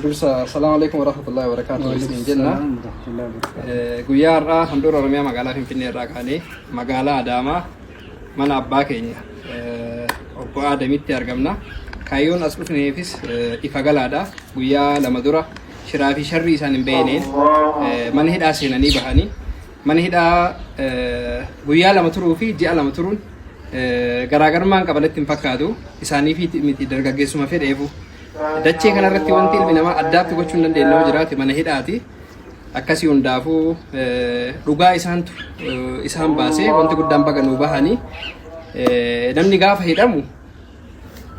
dursa assalamu alaikum warahmatullahi wabarakatuh isiniin jenna guyyaa har'aa handhuura oromiyaa magaalaa finfinnee irraa kaanee magaalaa adaamaa mana abbaa keenya obbo aadamitti argamna kaayyoon as dhufneefis ifa galaadha guyyaa lama dura shiraa fi sharrii isaan hin beekneen mana hidhaa seenanii bahanii Mana hidhaa guyyaa lama turuu fi ji'a lama turuun garaagarummaan qaba natti hin fakkaatu. Isaaniif miti dargaggeessuma fedheefu. Dachee kanarratti wanti ilmi namaa addaatti gochuu hin dandeenye yoo jiraate mana hidhaati. Akkasii hundaafuu dhugaa isaantu isaan baasee wanti guddaan baga nuu bahanii namni gaafa hidhamu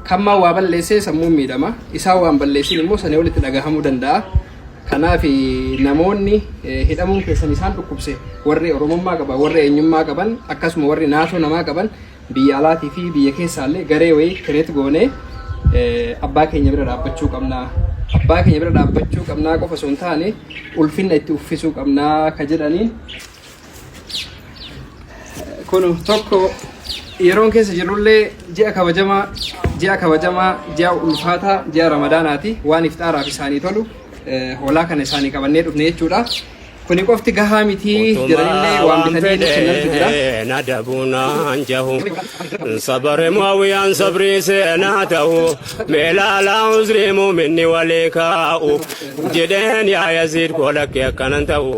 Kammaa waa balleessee sammuun miidhama. Isaa waan balleessin immoo sanii olitti dhagahamuu danda'a. Kanaaf namoonni hidhamuun keessan isaan dhukkubse warri Oromummaa qaban, warri eenyummaa qaban, akkasuma warri naasoo namaa qaban biyya alaatii fi biyya keessaallee garee wayii kireet goonee abbaa keenya bira dhaabbachuu qabna. Abbaa keenya bira dhaabbachuu qabnaa qofa osoo hin taane ulfinna itti uffisuu qabnaa ka jedhaniin Kun tokko yeroon keessa jirrullee ji'a kabajamaa ji'a kabajamaa ji'a ulfaataa ji'a ramadaanaati waan ifxaaraaf isaanii tolu eh, hoolaa kana isaanii qabannee dhufne jechuudha. Kuni qofti gahaa miti jiranillee Utumaa waan waan bitanii nuuf kennantu jira. fedhe na dabuunaan jahu sabare mo'awiyaan sabrii seenaa ta'u meelaalaa uzrii muuminni walii kaa'u jedheen yaa yaziid koo lakkee akkanan ta'u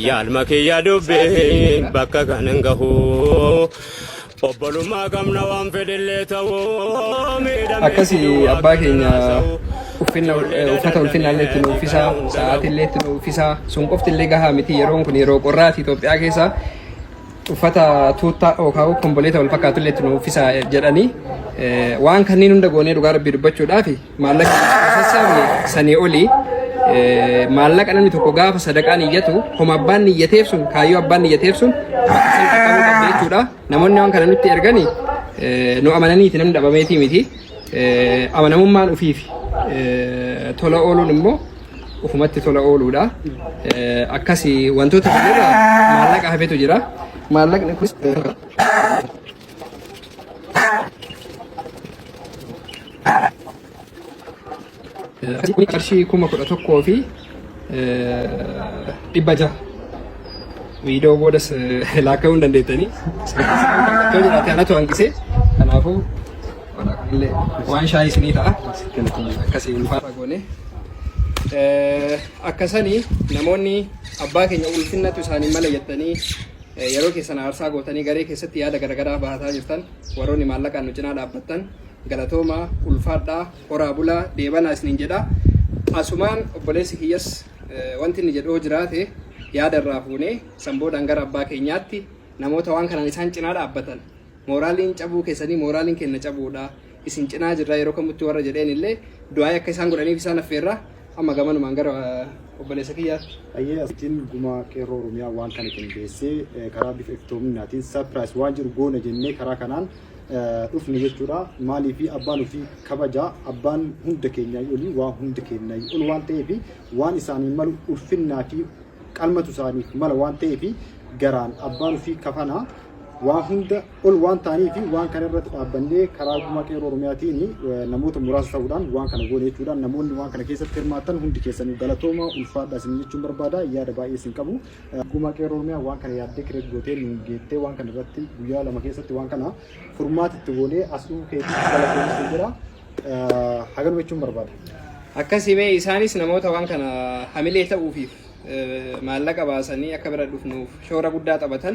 yaalma kiyya dubbiin bakka kanan gahu obbolummaa qabna waan fedhillee ta'u miidhamee akkasi fiduu abbaa akka keenya kanaa sa'u uffinna eh, uffata ulfinna illee itti nu uffisa sa'aatii illee itti nu uffisa sun qofti illee gahaa miti yeroon kun yeroo qorraati Itoophiyaa keessa uffata tuuttaa yookaan komboleeta wal fakkaatu illee itti nu uffisa jedhanii eh, waan kanneen hunda goonee dhugaa rabbii dubbachuudhaafi maallaqa sassaabne sanii olii eh, maallaqa namni tokko gaafa sadaqaan iyyatu homa abbaan niyyateef sun kaayyoo abbaan niyyateef sun san qaqqabuu qabdi jechuudha namoonni waan kana nutti ergani eh, nu amananiiti namni dhabameetii miti Eh, amanamummaan ufiifi Eh, tola ooluun immoo ufumatti tola ooluudha Eh, akkasi wantoota kanarra maallaqa hafetu jira maallaqni kun Kun qarshii kuma kudha tokkoo fi dhibba jaha. Viidiyoo boodas laakka'uu hin dandeettanii. Iddoo jiraate anatu hanqisee. Kanaafuu illee waan shaayii isinii ta'a. Akkasii ulfaata goone. Akkasanii namoonni abbaa keenya ulfinnatu isaanii mala jettanii Yeroo keessan aarsaa gootanii garee keessatti yaada garagaraa bahataa jirtan warroonni maallaqaan nu cinaa dhaabbattan galatoomaa, ulfaadhaa, horaa bulaa, deebanaa isiniin jedha. Asumaan obboleessi kiyyas wanti inni jedhu yoo jiraate yaada irraa fuunee san boodaan gara abbaa keenyaatti namoota waan kanaan isaan cinaa dhaabbatan mooraaliin cabuu keessanii mooraaliin keenna cabuudha isin cinaa jirra yeroo kamutti warra jedheen illee du'aa'ii akka isaan godhaniif isaan affeerra Amma gamanumaan gara obboleessa kiyyaatti. Ayyee asitiin gumaa qeerroo Oromiyaa waan kana qindeessee karaa bifa iftoominaatiin saapiraayis waan jiru goona jennee karaa kanaan dhufne jechuudha. Maaliif abbaan ofii kabaja abbaan hunda keenyaa olii waa hunda keenyaa ol waan ta'eef waan isaanii malu ulfinnaa fi qalmatu isaaniif mala waan ta'eef garaan abbaan ofii kafanaa waa hunda ol waan ta'anii fi waan kana irratti dhaabbannee karaa gumaa qeerroo Oromiyaatiin namoota muraasa ta'uudhaan waan kana goone jechuudhaan namoonni waan kana keessatti hirmaatan hundi keessanuu galatooma ulfaadhaa isin jechuun barbaada yaada baay'ee isin qabu. Gumaa qeerroo Oromiyaa waan kana yaaddee kireet gootee nuun geettee waan kana irratti guyyaa lama keessatti waan kana furmaata itti goonee as dhufuu keetii galatooma isin jira haganuma jechuun barbaada. Akkasime isaanis namoota waan kana hamilee ta'uufiif maallaqa baasanii akka bira dhufnuuf shoora guddaa taphatan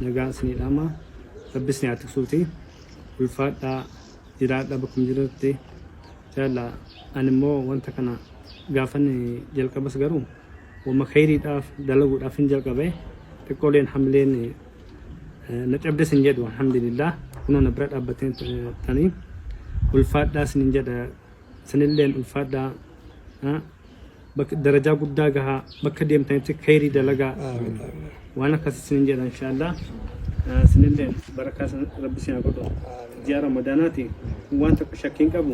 Nagaan isinii dhaama rabbi isin haa tiksuuti ulfaadha jiraadha bakkuma jiranitti jaalla ani immoo wanta kana gaafan jalqabas garuu wama kayriidhaaf dalaguudhaaf hin jalqabe xiqqooleen hamileen na cabdes hin jedhu alhamdulillah kunoo na bira dhaabbatee tanii ulfaadhaa isinin jedha isinilleen ulfaadhaa Bakka darajaa guddaa gahaa bakka deemtanitti khayrii dalagaa Amiin. Amiin. waan akkas isinin jedha inshaallah Ah, isinilleen barakaa isin rabbi isin haa godhu ji'a ramadaanaati waan tokko shakkii hin qabu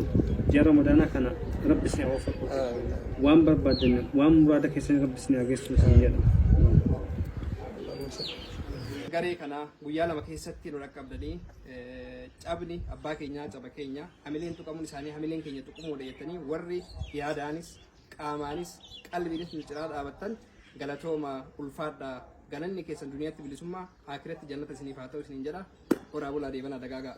ji'a ramadaanaa kana rabbi isin haa waffaqu Amiin. waan barbaaddan waan muraada keessan rabbi isin haa geessu isin jedha garee kana guyyaa lama keessatti nu dhaqqabdanii eh, cabni abbaa keenyaa caba keenya hamileen tuqamuun isaanii hamileen keenya tuqamuudha jettanii warri yaadaanis qaamaanis qalbiinis nu cinaa dhaabattan galatoomaa ulfaadhaa galanni keessan duniyaatti bilisummaa aakiratti jannata isiniif haa ta'u isiniin jedha horaa bulaa deebanaa dagaagaa.